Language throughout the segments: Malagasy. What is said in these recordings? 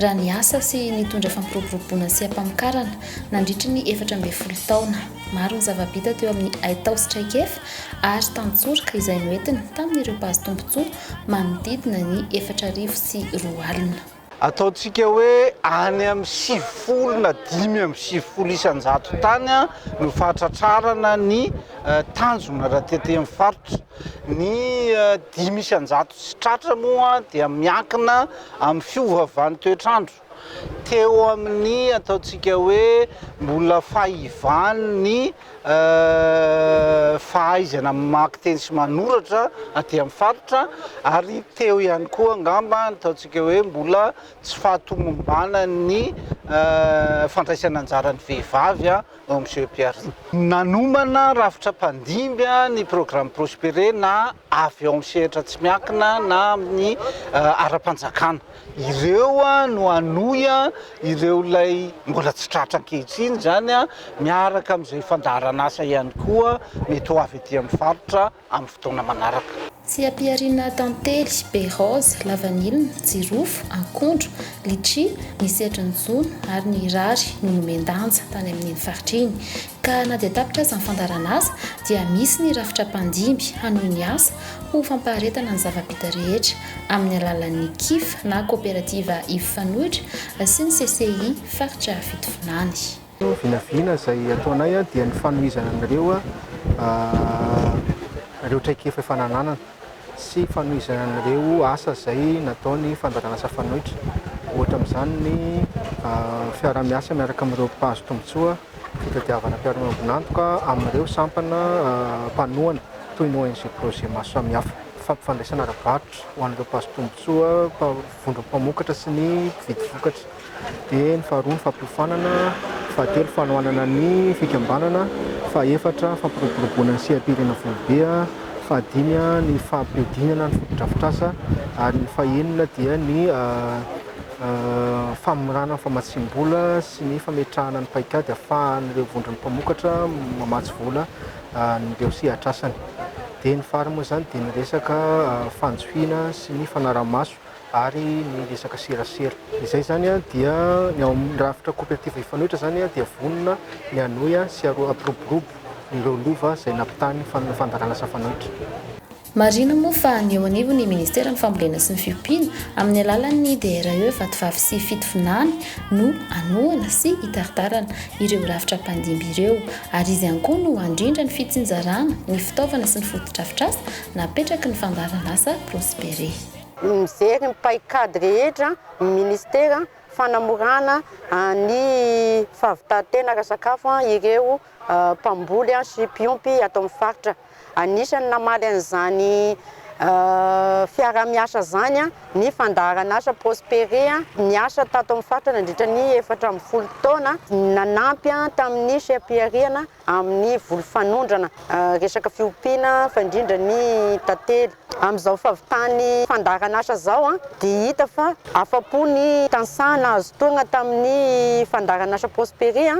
raha niasa sy nitondra fampiroboroboana sy ampamokarana nandritry ny efatra ambin'ny folo taona. Maro ny zava-bita teo amin'ny haitao sy traikefa ary tantsoroka izay noentiny tamin'ireo mpahazo tombontsoa manodidina ny efatra arivo sy roa alina. Ataontsika hoe any amin'ny sivifolo na dimy amby sivifolo isan-jato tany no fahatratrarana ny tanjona raha tetemin'ny faritra. Ny dimy isan-jato sy tratra moa dia miankina amin'ny fiovaovan'ny toetr'andro. Teo amin'ny ataontsika hoe mbola fahivan'ny fahaizana mamaky teny sy manoratra aty amin'ny faritra ary teo ihany koa angamba ny ataontsika hoe mbola tsy fahatomombanan'ny fandraisana anjaran'ny vehivavy Hoy Monsieur Pierre. Nanomana rafitra mpandimby ny programme Prospérer na avy ao amin'ny sehatra tsy miankina na amin'ny ara-panjakana. Ireo no hanohy ireo ilay mbola tsy tratra ankehitriny izany miaraka amin'izay fandaharan'asa ihany koa mety ho avy aty amin'ny faritra. amin'ny fotoana manaraka. Tsy ampiharina tantely, be raozy, lavanilina, jirofo, akondro, litchi, ny sehatry ny jono ary ny rary no nomen-danja tany amin'iny faritra iny. Ka na dia tapitra aza ny fandaharan'asa dia misy ny rafitra mpandimby hanohy ny asa ho fampaharetana ny zava-bita rehetra amin'ny alalan'ny kif na kaoperativa Ivo Fanoitra sy ny CCI faritra Fitovinany. Vinavina izay ataonay dia ny fanomezana an'ireo ireo traikefa efa nananana sy fanomezana an'ireo asa izay nataon'ny fandranaran'asa fanoitra, ohatra amin'izany ny fiaraha-miasa miaraka amin'ireo mpahazo tombontsoa fitadiavana mpiara-miombon'antoka amin'ireo sampana mpanohana toy ny ONG Projet maro samihafa, fampifandraisana ara-barotra ho an'ireo mpahazo tombontsoa, vondrom-pamokatra sy ny mpividy vokatra. dia ny faharoa ny fampiofanana, fahatelo fanohanana ny fikambanana, fahefatra fampiroboroboana ny seha-pirenena foibe, fahadimy ny fampihodinana ny fotodrafitrasa ary ny fahenina dia ny famorana ny famatsiam-bola sy ny fametrahana ny paikady ahafahan'ireo vondron'ny mpamokatra mamatsy vola an'ireo sehatrasany dia ny farany moa izany dia ny resaka fanjohiana sy ny fanara-maso ary ny resaka serasera. Izay izany dia ny ao amin'ny rafitra cooperative Mifanohitra izany dia vonona ny hanohy sy hampiroborobo ireo lova izay nampitahan'ny fandaharan'asa mifanohitra. Marihina moa fa ny eo anivon'ny Ministeran'ny Fambolena sy ny Fiompiana, amin'ny alalan'ny DRE Vatovavy sy Fitovinany no hanohana sy hitaritarana ireo rafitra mpandimby ireo, ary izy ihany koa no handrindra ny fitsinjarana ny fitaovana sy ny fotodrafitrasa napetraky ny fandaharan'asa Prospere. ny mijery ny paikady rehetra ny minisitera fanamorana ny fahavitan-tena ara-sakafo ireo mpamboly sy mpiompy ato amin'ny faritra. Anisan'ny namaly an'izany fiaraha-miasa izany ny fandaharan'asa Prospere niasa tato amin'ny faritra nandritra ny efatra ambin'ny folo taona, nanampy tamin'ny seha-pihariana amin'ny voly fanondrana, resaka fiompiana fa indrindra ny tantely. Amin'izao fahavitan'ny fandaharan'asa izao dia hita fa afa-po ny tantsaha nahazo tohana tamin'ny fandaharan'asa Prosperia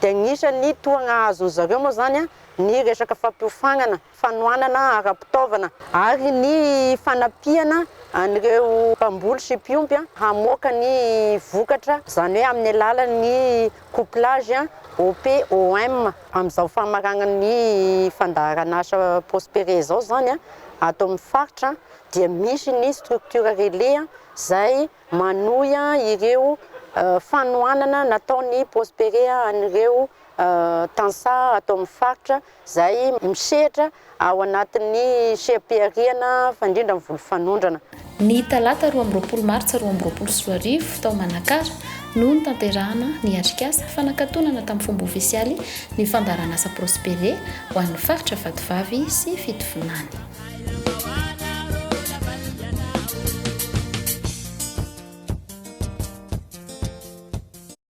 dia anisan'ny tohana azon'izareo moa izany ny resaka fampiofanana. fanohanana ara-pitaovana ary ny fanampiana an'ireo mpamboly sy mpiompy hamoaka ny vokatra, izany hoe amin'ny alalan'ny couplage OP-OM. Amin'izao famaragnan'ny fandaharan'asa Prospere izao izany, ato amin'ny faritra dia misy ny structure relais izay manohy ireo fanohanana nataon'ny Prospere an'ireo tantsaha ato amin'ny faritra. izay misehatra ao anatin'ny seha-pihariana fandrindra ny voly fanondrana. Ny talata roa amby roapolo martsa roa amby roapolo sy roa arivo, tao Manakara, no notanterahana ny atrikasa fanakatonana tamin'ny fomba ofisialy ny fandaharanasa Prospere ho an'ny faritra Vatovavy sy Fitovinany.